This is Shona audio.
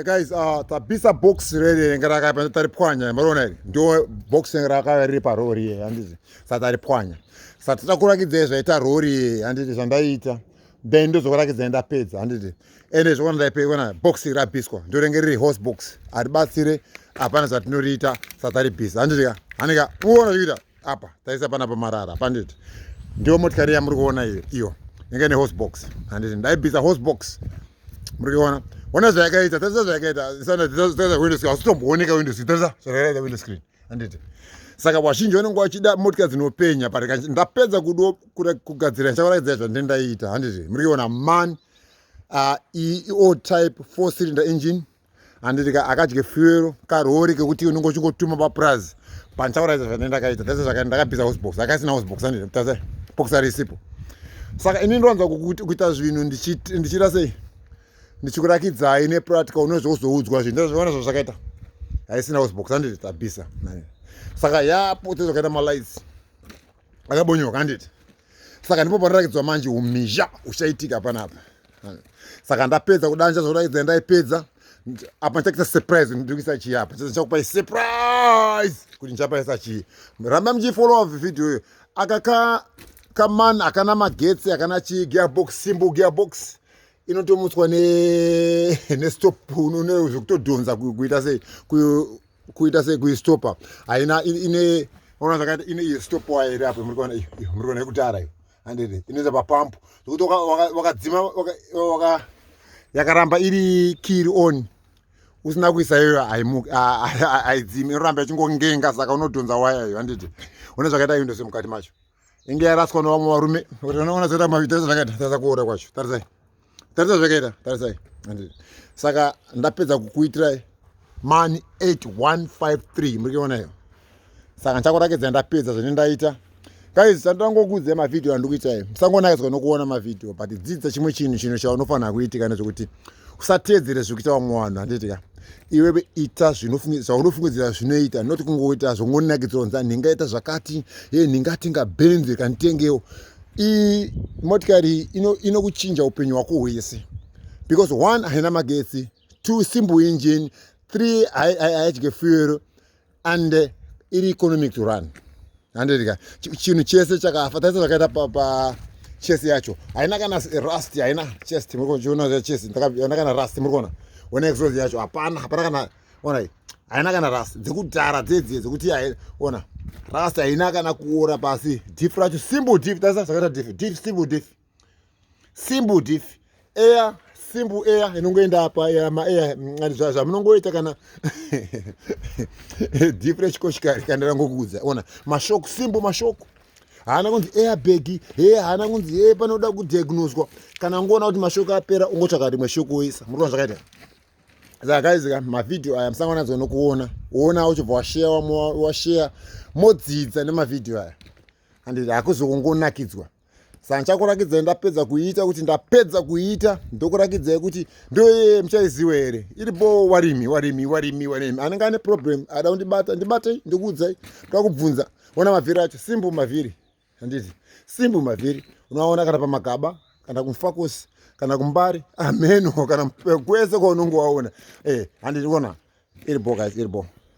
Guys, uh, tabisa box rere renge rakaipa ndotaripwanya mariona iri ndo box renge rakaipa riri parori iye handizi sa taripwanya sa tita kurakidza zvaita rori iye handiti zvandaiita then ndozokurakidza ndapedza handiti ende zvokona ndaipeona box rabiswa ndo renge riri horse box haribatsire hapana zvatinoriita sa taribisa handiti ka handika uona zvikuita apa taisa pana pamarara panditi ndiyo motikari yamuri kuona iyo iyo inge ne hosbox handiti ndaibisa hosbox muri kuona ona zvayakaita tarisa zvayakaita sanataisa window screen hausitombooneka window screen tarisa zvayakaita window screen handiti saka vazhinji vanenge vachida motika dzinopenya but ndapedza kudo kugadzira ndichavaraidzira zvandendaiita handiti muri kuona man uh, e, e, o type four cylinder engine handiti ka akadye fuero karori kekuti unenge uchingotuma papurazi pandichauraisa zvandine ndakaita tese zvakaita ndakabvisa hosbox akaisina hosbox handiti tase bokisa risipo saka ini ndinowanza kuita zvinhu ndichiita sei ndichikurakidzai nepractical unozozoudzwa zvinhu ndazviona zvazvakaita haisina hosbox handiti tabvisa saka yapo tezvakaita malights akabonyoka handiti saka ndipo panoratidzwa manje umhizha uchaitika panapa saka ndapedza kudanja zvoratidza ndaipedza apa ndichakuita surprise ndikuisa chii apa ndichakupai surprise kuti ndichapaisa chii ramba muchifollowa video iyo aka ka kaman akana magetsi akana chii gearbox simbo gearbox inotomutswa ne nestop unone zvekutodhonza kuita sei kuita sekuistopa haina ine ona zvakaita ine iyo stopowa here apo muri kuona iyo muri kuona yekutara iyo handede inoita papampu zvekuti wakadzima yakaramba iri kiri on usina kuisa iyoyo haidzimi inoramba ichingongenga saka unodhonza waya iyo handiti une zvakaita iyo ndose mukati macho inge yaraswa nevamwe varume kuti vanoona zvoita mavita zvakaita tarisa kuora kwacho tarisai tarisa zvakaita tarisai saka ndapedza kukuitirai mani 8153 muri kuona iyo saka ndichakurakidza ndapedza zvine ndaita guys tandangokuudzai mavhidhiyo andiri kuita iyo musangonakiswa nokuona mavhidhiyo but dzidza chimwe chinhu chinhu chaunofanira kuitika nezvekuti usateedzere zviri kuita vamwe vanhu handiti ka iwewe ita zvaunofungidzira zvinoita not kungoita zvongonakidzira kunzi ah, ndingaita zvakati e ndingatenga benzi kanditengewo iyi motikari inokuchinja ino upenyu hwako hwese because one haina magetsi two simple engine three haidye fuel and uh, iri economic to run handika chinhu chese chakafa taisa zvakaita pa, pa chest yacho haina kana rust haina chest murikuona chest haina kana rust murikuona one exos yacho hapana hapana kana onai haina kana rust dzekudhara dzedzie dzekuti ona rust haina kana kuora pasi dif racho simple dif taisa zvakaita dif dif simple dif simple this air simple air inongoenda apa maair mm, zvamunongoita kana difu rechikoshikari kana rangokuudza ona mashoko simple mashoko haana kunzi airbag he haana kunzi he panoda kudiagnoswa kana ungoona kuti mashoko apera ungotsvaka rimwe shoko woisa murikuona zvakaita saka kaizika mavhidhiyo aya musangana nadzo nokuona woona uchibva washeya washeya modzidza nemavhidhiyo aya handiti hakuzokungonakidzwa saka ndichakurakidzai ndapedza kuiita kuti ndapedza kuiita ndokurakidzai kuti ndoyeye muchaiziwa here iri boo warimi warimi warimi warimi anenge ane problem ada kundibata ndibatei ndikuudzai toda kubvunza ona mavhiri acho simbu mavhiri handiti simbu mavhiri unoaona kana pamagaba kana kumfakosi kana kumbari ameno kana kwese kwaunonge waona eh, handiti ona iri boo guys iri boo